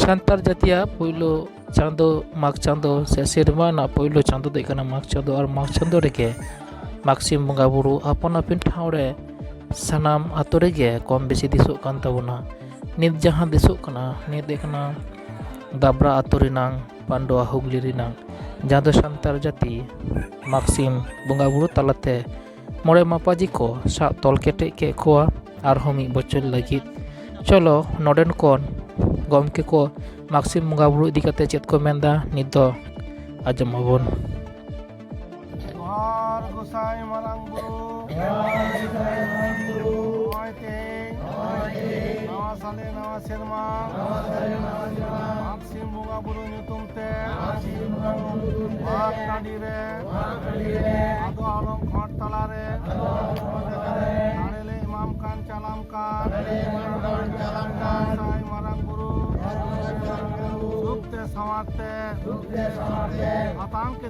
ᱥᱟᱱᱛᱟᱲ ᱡᱟᱹᱛᱤᱭᱟᱜ ᱯᱳᱭᱞᱳ ᱪᱟᱸᱫᱳ ᱢᱟᱜᱽ ᱪᱟᱸᱫᱳ ᱥᱮ ᱥᱮᱨᱢᱟ ᱨᱮᱱᱟᱜ ᱯᱳᱭᱞᱳ ᱪᱟᱸᱫᱳ ᱫᱚ ᱦᱩᱭᱩᱜ ᱠᱟᱱᱟ ᱢᱟᱜᱽ ᱪᱟᱸᱫᱳ ᱟᱨ ᱢᱟᱜᱽ ᱪᱟᱸᱫᱳ ᱨᱮᱜᱮ ᱢᱟᱜᱽ ᱥᱤᱢ ᱵᱚᱸᱜᱟ ᱵᱩᱨᱩ ᱟᱯᱟᱱ ᱟᱹᱯᱤᱱ ᱴᱷᱟᱶ ᱨᱮ ᱥᱟᱱᱟᱢ ᱟᱛᱳ ᱨᱮᱜᱮ ᱠᱚᱢ ᱵᱮᱥᱤ ᱫᱤᱥᱚᱜ ᱠᱟᱱ ᱛᱟᱵᱚᱱᱟ ᱱᱤᱛ ᱡᱟᱦᱟᱸ ᱫᱤᱥᱚᱜ ᱠᱟᱱᱟ ᱱᱤᱛ ᱫᱚ ᱦᱩᱭᱩᱜ ᱠᱟᱱᱟ ᱫᱟᱵᱽᱨᱟ ᱟᱛᱳ ᱨᱮᱱᱟᱝ ᱯᱟᱱᱰᱩᱣᱟ ᱦᱩᱜᱽᱞᱤ ᱨᱮᱱᱟᱝ ᱡᱟᱦᱟᱸ ᱫᱚ ᱥᱟᱱᱛᱟᱲ ᱡᱟᱹᱛᱤ ᱢᱟᱜᱽᱥᱤᱢ ᱵᱚᱸᱜᱟᱼᱵᱩᱨᱩ ᱛᱟᱞᱟᱛᱮ ᱢᱚᱬᱮ ᱢᱟᱯᱟᱡᱤ ᱠᱚ ᱥᱟᱵ ᱛᱚᱞ ᱠᱮᱴᱮᱡ ᱠᱮᱫ ᱠᱚᱣᱟ ᱟᱨᱦᱚᱸ ᱢᱤᱫ ᱵᱚᱪᱷᱚᱨ ᱞᱟᱹᱜᱤᱫ ᱪᱚᱞᱚ ᱱᱚᱰᱮᱱ ᱠᱚ ᱜᱚᱢᱠᱮ ᱠᱚ ᱢᱟᱜᱽᱥᱤᱢ ᱵᱚᱸᱜᱟᱼᱵᱩᱨᱩ ᱤᱫᱤ ᱠᱟᱛᱮᱫ ᱪᱮᱫ ᱠᱚ ᱢᱮᱱᱫᱟ ᱱᱤᱛ ᱫᱚ ᱟᱸᱡᱚᱢ ᱟᱵᱚᱱ ᱡᱚᱦᱟᱨ ᱜᱚᱥᱟᱭ ᱢᱟᱨᱟᱝ ᱵᱩᱨᱩ ᱱᱚᱜᱼᱚᱭ ᱛᱮᱦᱮᱧ ᱱᱟᱣᱟ ᱥᱟᱞᱮ ᱱᱟᱣᱟ ᱥᱮᱨᱢᱟ ᱢᱟᱜᱽ ᱥᱤᱢ ᱵᱚᱸᱜᱟ ᱵᱩᱨᱩ ᱧᱩᱛᱩᱢ ᱛᱮ ᱢᱟᱜᱽ ᱴᱟᱺᱰᱤ ᱨᱮ ᱟᱫᱚ ᱟᱞᱚᱢ ᱠᱷᱚᱸᱰ ᱛᱟᱞᱟ ᱨᱮ ᱫᱟᱲᱮ ᱞᱮ ᱮᱢᱟᱢ ᱠᱟᱱ ᱪᱟᱞᱟᱢ ᱠᱟᱱ ᱜᱚᱥᱟᱭ ᱢᱟᱨᱟᱝ ᱵᱩᱨᱩ ᱥᱩᱠ ᱛᱮ ᱥᱟᱶᱟᱨ ᱛᱮ ᱦᱟᱛᱟᱝ ᱠᱮᱫ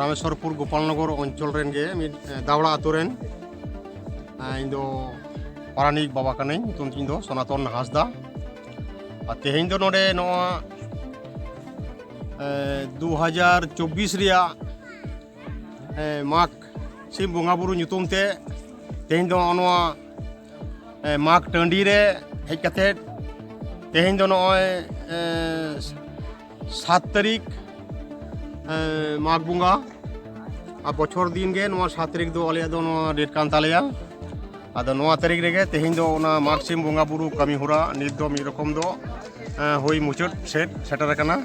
ᱨᱟᱢᱮᱥᱣᱚᱨᱯᱩᱨ ᱜᱳᱯᱟᱞᱱᱚᱜᱚᱨ ᱚᱧᱪᱚᱞ ᱨᱮᱱ ᱜᱮ ᱢᱤᱫ ᱫᱟᱣᱲᱟ ᱟᱛᱳ ᱨᱮᱱ ᱤᱧ ᱫᱚ ᱯᱟᱨᱟᱱᱤᱠ ᱵᱟᱵᱟ ᱠᱟᱹᱱᱟᱹᱧ ᱧᱩᱛᱩᱢ ᱛᱤᱧ ᱫᱚ ᱥᱚᱱᱟᱛᱚᱱ ᱦᱟᱸᱥᱫᱟ ᱟᱨ ᱛᱮᱦᱮᱧ ᱫᱚ ᱱᱚᱰᱮ ᱱᱚᱣᱟ ᱫᱩ ᱦᱟᱡᱟᱨ ᱪᱚᱵᱵᱤᱥ ᱨᱮᱭᱟᱜ ᱢᱟᱜᱽ ᱥᱤᱢ ᱵᱚᱸᱜᱟ ᱵᱩᱨᱩ ᱧᱩᱛᱩᱢ ᱛᱮ ᱛᱮᱦᱮᱧ ᱫᱚ ᱱᱚᱣᱟ ᱢᱟᱜᱽ ᱴᱟᱺᱰᱤ ᱨᱮ ᱦᱮᱡ ᱠᱟᱛᱮᱫ ᱛᱮᱦᱮᱧ ᱫᱚ ᱱᱚᱜᱼᱚᱭ ᱥᱟᱛ ᱛᱟᱹᱨᱤᱠᱷ ᱢᱟᱜᱽ ᱵᱚᱸᱜᱟ ᱟᱨ ᱵᱚᱪᱷᱚᱨ ᱫᱤᱱ ᱜᱮ ᱱᱚᱣᱟ ᱥᱟᱛ ᱛᱟᱹᱨᱤᱠᱷ ᱫᱚ ᱟᱞᱮᱭᱟᱜ ᱫᱚ ᱱᱚᱣᱟ ᱰᱮᱴ ᱠᱟᱱ ᱛᱟᱞᱮᱭᱟ ᱟᱫᱚ ᱱᱚᱣᱟ ᱛᱟᱹᱨᱤᱠᱷ ᱨᱮᱜᱮ ᱛᱮᱦᱮᱧ ᱫᱚ ᱚᱱᱟ ᱢᱟᱜᱽ ᱥᱤᱢ ᱵᱚᱸᱜᱟ ᱵᱩᱨᱩ ᱠᱟᱹᱢᱤ ᱦᱚᱨᱟ ᱱᱤᱛ ᱫᱚ ᱢᱤᱫ ᱨᱚᱠᱚᱢ ᱫᱚ ᱦᱩᱭ ᱢᱩᱪᱟᱹᱫ ᱥᱮᱫ ᱥᱮᱴᱮᱨ ᱟᱠᱟᱱᱟ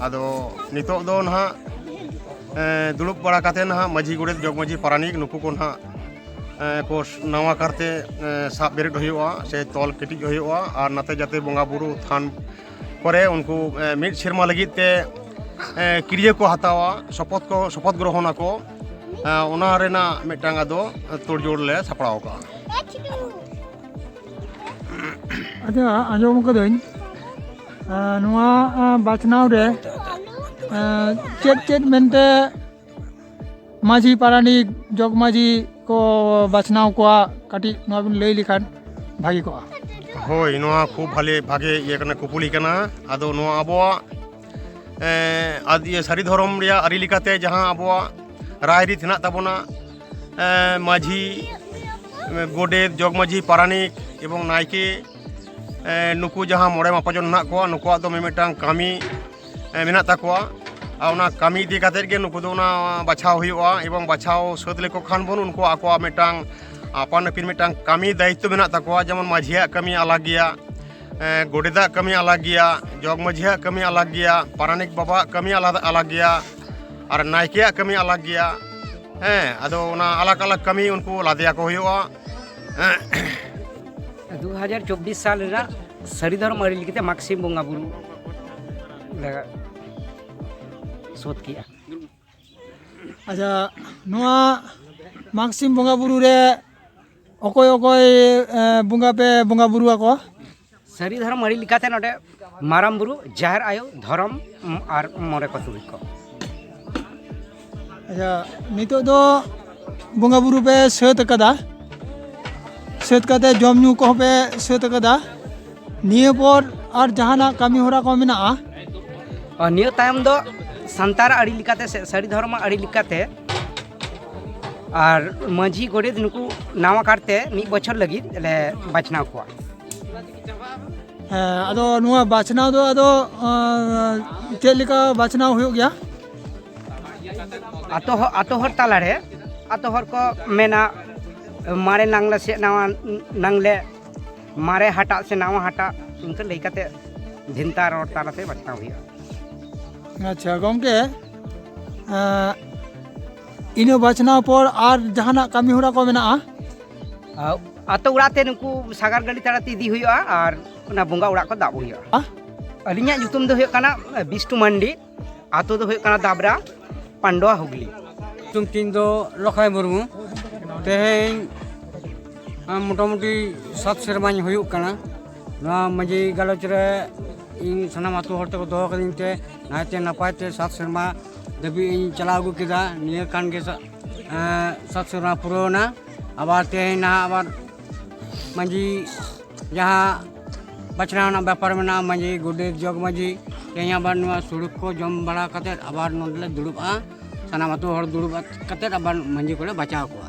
ᱟᱫᱚ ᱱᱤᱛᱚᱜ ᱫᱚ ᱱᱟᱦᱟᱜ ᱫᱩᱲᱩᱵ ᱵᱟᱲᱟ ᱠᱟᱛᱮ ᱱᱟᱦᱟᱜ ᱢᱟᱹᱡᱷᱤ ᱜᱚᱰᱮᱛ ᱡᱚᱜᱽ ᱢᱟᱹᱡᱷᱤ ᱯᱟᱨᱟᱱᱤᱠ ᱱᱩᱠᱩ ᱠᱚ ᱱᱟᱦᱟᱜ ᱠᱚ ᱱᱟᱣᱟ ᱠᱟᱨᱛᱮ ᱥᱟᱵ ᱵᱮᱨᱮᱫ ᱦᱩᱭᱩᱜᱼᱟ ᱥᱮ ᱛᱚᱞ ᱠᱮᱴᱮᱡ ᱦᱩᱭᱩᱜᱼᱟ ᱟᱨ ᱱᱟᱛᱮ ᱡᱟᱛᱮ ᱵᱚᱸᱜᱟ ᱵᱩᱨᱩ ᱛᱷᱟᱱ ᱠᱚᱨᱮ ᱩᱱᱠᱩ ᱢᱤᱫ ᱥᱮᱨᱢᱟ ᱞᱟᱹᱜᱤᱫ ᱛᱮ ᱠᱤᱨᱤᱭᱟᱹ ᱠᱚ ᱦᱟᱛᱟᱣᱟ ᱥᱚᱯᱚᱛ ᱠᱚ ᱥᱚᱯᱚᱛ ᱜᱨᱚᱦᱚᱱ ᱟᱠᱚ ᱚᱱᱟ ᱨᱮᱱᱟᱜ ᱢᱤᱫᱴᱟᱝ ᱟᱫᱚ ᱛᱳᱲᱡᱳᱲ ᱞᱮ ᱥᱟᱯᱲᱟᱣ ᱠᱟᱜᱼᱟ ᱟᱪᱪᱷᱟ ᱟᱸᱡᱚᱢ ᱠᱟᱹᱫᱟᱹᱧ ᱱᱚᱣᱟ ᱵᱟᱪᱷᱱᱟᱣ ᱨᱮ ᱪᱮᱫ ᱪᱮᱫ ᱢᱮᱱᱛᱮ ᱢᱟᱹᱡᱷᱤ ᱯᱟᱨᱟᱱᱤᱠ ᱡᱚᱜᱽ ᱢᱟᱹᱡᱷᱤ ᱠᱚ ᱵᱟᱪᱷᱱᱟᱣ ᱠᱚᱣᱟ ᱠᱟᱹᱴᱤᱡ ᱱᱚᱣᱟ ᱵᱤᱱ ᱞᱟᱹᱭ ᱞᱮᱠᱷᱟᱱ ᱵᱷᱟᱹᱜᱤ ᱠᱚᱜᱼᱟ ᱦᱳᱭ ᱱᱚᱣᱟ ᱠᱷᱩᱵ ᱵᱷᱟᱞᱮ ᱵᱷᱟᱜᱮ ᱤᱭᱟᱹ ᱠᱟᱱᱟ ᱠᱩᱯᱩᱞᱤ ᱠᱟᱱᱟ ᱟᱫᱚ ᱱᱚᱣᱟ ᱟᱵᱚᱣᱟᱜ ᱤᱭᱟᱹ ᱥᱟᱹᱨᱤ ᱫᱷᱚᱨᱚᱢ ᱨᱮᱭᱟᱜ ᱟᱹᱨᱤ ᱞᱮᱠᱟᱛᱮ ᱡᱟᱦᱟᱸ ᱟᱵᱚᱣᱟᱜ ᱨᱟᱭᱨᱤᱛ ᱦᱮᱱᱟᱜ ᱛᱟᱵᱚᱱᱟ ᱢᱟᱹᱡᱷᱤ ᱜᱚᱰᱮᱛ ᱡᱚᱜᱽ ᱢᱟᱹᱡᱷᱤ ᱯᱟᱨᱟᱱᱤᱠ ᱮᱵᱚᱝ ᱱᱟᱭᱠᱮ ᱱᱩᱠᱩ ᱡᱟᱦᱟᱸ ᱢᱚᱬᱮ ᱢᱟᱯᱟᱡᱚᱱ ᱦᱮᱱᱟᱜ ᱠᱚᱣᱟ ᱱᱩᱠᱩᱣᱟᱜ ᱫᱚ ᱢᱤᱢᱤᱫᱴᱟᱝ ᱠᱟᱹᱢᱤ ᱢᱮᱱᱟᱜ ᱛᱟᱠᱚᱣᱟ ᱟᱨ ᱚᱱᱟ ᱠᱟᱹᱢᱤ ᱤᱫᱤ ᱠᱟᱛᱮ ᱜᱮ ᱱᱩᱠᱩ ᱫᱚ ᱚᱱᱟ ᱵᱟᱪᱷᱟᱣ ᱦᱩᱭᱩᱜᱼᱟ ᱮᱵᱚᱝ ᱵᱟᱪᱷᱟᱣ ᱥᱟᱹᱛ ᱞᱮᱠᱚ ᱠᱷᱟᱱ ᱵᱚᱱ ᱩᱱᱠᱩ ᱟᱠᱚᱣᱟᱜ ᱢᱤᱫᱴᱟᱝ ᱟᱯᱟᱱ ᱟᱹᱯᱤᱱ ᱢᱤᱫᱴᱟᱝ ᱠᱟᱹᱢᱤ ᱫᱟᱭᱤᱛᱛᱚ ᱢᱮᱱᱟᱜ ᱛᱟᱠᱚᱣᱟ ᱡᱮᱢᱚᱱ ᱢᱟᱹᱡᱷᱤᱭᱟᱜ ᱠᱟᱹᱢᱤ ᱟᱞᱟᱜᱽ ᱜᱮᱭᱟ ᱜᱚᱰᱮᱛᱟᱜ ᱠᱟᱹᱢᱤ ᱟᱞᱟᱜᱽ ᱜᱮᱭᱟ ᱡᱚᱜᱽ ᱢᱟᱹᱡᱷᱤᱭᱟᱜ ᱠᱟᱹᱢᱤ ᱟᱞᱟᱜᱽ ᱜᱮᱭᱟ ᱯᱟᱨᱟᱱᱤᱠ ᱵᱟᱵᱟᱣᱟᱜ ᱠᱟᱹᱢᱤ ᱟᱞᱟᱫᱟ ᱟᱞᱟᱜᱽ ᱜᱮᱭᱟ ᱟᱨ ᱱᱟᱭᱠᱮᱭᱟᱜ ᱠᱟᱹᱢᱤ ᱟᱞᱟᱜᱽ ᱜᱮᱭᱟ ᱦᱮᱸ ᱟᱫᱚ ᱚᱱᱟ ᱟᱞᱟᱜᱽ ᱟᱞᱟᱜᱽ ᱠᱟᱹᱢᱤ ᱩᱱᱠᱩ ᱞᱟᱫᱮᱭᱟᱠᱚ ᱦᱩᱭᱩᱜᱼᱟ ᱫᱩ ᱦᱟᱡᱟᱨ ᱪᱚᱵᱵᱤᱥ ᱥᱟᱞ ᱨᱮᱱᱟᱜ ᱥᱟᱹᱨᱤ ᱫᱷᱚᱨᱚᱢ ᱟᱹᱨᱤ ᱞᱮᱠᱟᱛᱮ ᱢᱟᱜᱽ ᱥᱤᱢ ᱵᱚᱸᱜᱟ ᱵᱩᱨᱩ ᱥᱳᱫᱷ ᱠᱮᱜᱼᱟ ᱟᱪᱪᱷᱟ ᱱᱚᱣᱟ ᱢᱟᱜᱽ ᱥᱤᱢ ᱵᱚᱸᱜᱟ ᱵᱩᱨᱩ ᱨᱮ ᱚᱠᱚᱭ ᱚᱠᱚᱭ ᱵᱚᱸᱜᱟ ᱯᱮ ᱵᱚᱸᱜᱟ ᱵᱩᱨᱩ ᱟᱠᱚᱣᱟ ᱥᱟᱹᱨᱤ ᱫᱷᱚᱨᱚᱢ ᱟᱹᱨᱤ ᱞᱮᱠᱟᱛᱮ ᱱᱚᱰᱮ ᱢᱟᱨᱟᱝ ᱵᱩᱨᱩ ᱡᱟᱦᱮᱨ ᱟᱭᱳ ᱫᱷᱚᱨᱚᱢ ᱟᱨ ᱢᱚᱬᱮ ᱠᱚ ᱛᱩᱨᱩᱭ ᱠᱚ ᱟᱪᱪᱷᱟ ᱱᱤᱛᱚᱜ ᱫᱚ ᱵᱚᱸᱜᱟ ᱵᱩᱨᱩ ᱯᱮ ᱥᱟᱹᱛ ᱟᱠᱟᱫᱟ ᱥᱟᱹᱛ ᱠᱟᱛᱮ ᱡᱚᱢ ᱧᱩ ᱠᱚᱦᱚᱸ ᱯᱮ ᱥᱟᱹᱛ ᱟᱠᱟᱫᱟ ᱱᱤᱭᱟᱹ ᱯᱚᱨ ᱟᱨ ᱡᱟᱦᱟᱱᱟᱜ ᱠᱟᱹᱢᱤ ᱦᱚᱨᱟ ᱠᱚ ᱢᱮᱱᱟᱜᱼᱟ ᱟᱨ ᱱᱤᱭᱟᱹ ᱛᱟᱭᱚᱢ ᱫᱚ ᱥᱟᱱᱛᱟᱲ ᱟᱹᱨᱤ ᱞᱮᱠᱟᱛᱮ ᱥᱮ ᱥᱟᱹᱨᱤ ᱫᱷᱚᱨᱚᱢ ᱟᱹᱨᱤ ᱞᱮᱠᱟᱛᱮ ᱟᱨ ᱢᱟᱹᱡᱷᱤ ᱜᱚᱰᱮᱛ ᱱᱩᱠᱩ ᱱᱟᱣᱟ ᱠᱟᱨᱛᱮ ᱢᱤᱫ ᱵᱚᱪᱷᱚᱨ ᱞᱟᱹᱜᱤᱫ ᱞᱮ ᱵᱟᱪᱷᱱᱟᱣ ᱠᱚᱣᱟ ᱦᱮᱸ ᱟᱫᱚ ᱱᱚᱣᱟ ᱵᱟᱪᱷᱱᱟᱣ ᱫᱚ ᱟᱫᱚ ᱪᱮᱫ ᱞᱮᱠᱟ ᱵᱟᱪᱷᱱᱟᱣ ᱦᱩᱭᱩᱜ ᱜᱮᱭᱟ ᱟᱛᱳ ᱦᱚᱲ ᱟᱛᱳ ᱦᱚᱲ ᱛᱟᱞᱟᱨᱮ ᱟᱛᱳ ᱦᱚᱲ ᱠᱚ ᱢᱮᱱᱟ ᱢᱟᱨᱮ ᱱᱟᱝᱞᱮ ᱥᱮ ᱱᱟᱣᱟ ᱱᱟᱝᱞᱮ ᱢᱟᱨᱮ ᱦᱟᱴᱟᱜ ᱥᱮ ᱱᱟᱣᱟ ᱦᱟᱴᱟᱜ ᱤᱱᱠᱟᱹ ᱞᱟᱹᱭ ᱠᱟᱛᱮ ᱵᱷᱮᱱᱛᱟ ᱨᱚᱲ ᱛᱟᱞᱟᱛᱮ ᱵᱟᱪᱷᱱᱟᱣ ᱦᱩᱭᱩᱜᱼᱟ ᱟᱪᱪᱷᱟ ᱜᱚᱢᱠᱮ ᱤᱱᱟᱹ ᱵᱟᱪᱷᱱᱟᱣ ᱯᱚᱨ ᱟᱨ ᱡᱟᱦᱟᱱᱟᱜ ᱠᱟᱹᱢᱤ ᱦᱚᱨᱟ ᱠᱚ ᱢᱮᱱᱟᱜᱼᱟ ᱟᱛᱳ ᱚᱲᱟᱜ ᱛᱮ ᱱᱩᱠᱩ ᱥᱟᱜᱟᱲ ᱜᱟᱹᱰᱤ ᱛᱟᱲᱟᱛᱮ ᱤᱫᱤ ᱦᱩᱭᱩᱜᱼᱟ ᱟᱨ ᱚᱱᱟ ᱵᱚᱸᱜᱟ ᱚᱲᱟᱜ ᱠᱚ ᱫᱟᱵ ᱦᱩᱭᱩᱜᱼᱟ ᱟᱹᱞᱤᱧᱟᱜ ᱧᱩᱛᱩᱢ ᱫᱚ ᱦᱩᱭᱩᱜ ᱠᱟᱱᱟ ᱵᱤᱥᱴᱩ ᱢᱟᱱᱰᱤ ᱟᱛᱳ ᱫᱚ ᱦᱩᱭᱩᱜ ᱠᱟᱱᱟ ᱫᱟᱵᱨᱟ ᱯᱟᱱᱰᱚᱣᱟ ᱦᱩᱜᱽᱞᱤ ᱧᱩᱛᱩᱢ ᱛᱤᱧ ᱫᱚ ᱞᱚᱠᱷᱟᱭ ᱢᱩᱨᱢᱩ ᱛᱮᱦᱮᱧ ᱢᱚᱴᱟᱢᱩᱴᱤ ᱥᱟᱛ ᱥᱮᱨᱢᱟᱧ ᱦᱩᱭᱩᱜ ᱠᱟᱱᱟ ᱱᱚᱣᱟ ᱢᱟᱹᱡᱷᱤ ᱜᱟᱞᱚᱪ ᱨᱮ ᱤᱧ ᱥᱟᱱᱟᱢ ᱟᱛᱳ ᱦᱚᱲ ᱛᱮᱠᱚ ᱫᱚᱦᱚ ᱠᱟᱹᱫᱤᱧ ᱛᱮ ᱱᱟᱭᱛᱮ ᱱᱟᱯᱟᱭ ᱛᱮ ᱥᱟᱛ ᱥᱮᱨᱢᱟ ᱫᱷᱟᱹᱵᱤᱡ ᱤᱧ ᱪᱟᱞᱟᱣ ᱟᱹᱜᱩ ᱠᱮᱫᱟ ᱱᱤᱭᱟᱹ ᱠᱟᱱ ᱜᱮ ᱥᱟᱛ ᱥᱮᱨᱢᱟ ᱯᱩᱨᱟᱹᱣᱱᱟ ᱟᱵᱟᱨ ᱛᱮᱦᱮᱧ ᱱᱟᱦᱟᱜ ᱟᱵᱟᱨ ᱢᱟᱺᱡᱷᱤ ᱡᱟᱦᱟᱸ ᱵᱟᱪᱷᱱᱟᱣ ᱨᱮᱱᱟᱜ ᱵᱮᱯᱟᱨ ᱢᱮᱱᱟᱜᱼᱟ ᱢᱟᱺᱡᱷᱤ ᱜᱚᱰᱮᱛ ᱡᱚᱜᱽ ᱢᱟᱺᱡᱷᱤ ᱛᱮᱦᱮᱧ ᱟᱵᱟᱨ ᱱᱚᱣᱟ ᱥᱩᱲᱩᱠ ᱠᱚ ᱡᱚᱢ ᱵᱟᱲᱟ ᱠᱟᱛᱮᱫ ᱟᱵᱟᱨ ᱱᱚᱰᱮ ᱞᱮ ᱫᱩᱲᱩᱵᱼᱟ ᱥᱟᱱᱟᱢ ᱟᱹᱛᱩ ᱦᱚᱲ ᱫᱩᱲᱩᱵ ᱠᱟᱛᱮᱫ ᱟᱵᱟᱨ ᱢᱟᱺᱡᱷᱤ ᱠᱚᱞᱮ ᱵᱟᱪᱷᱟᱣ ᱠᱚᱣᱟ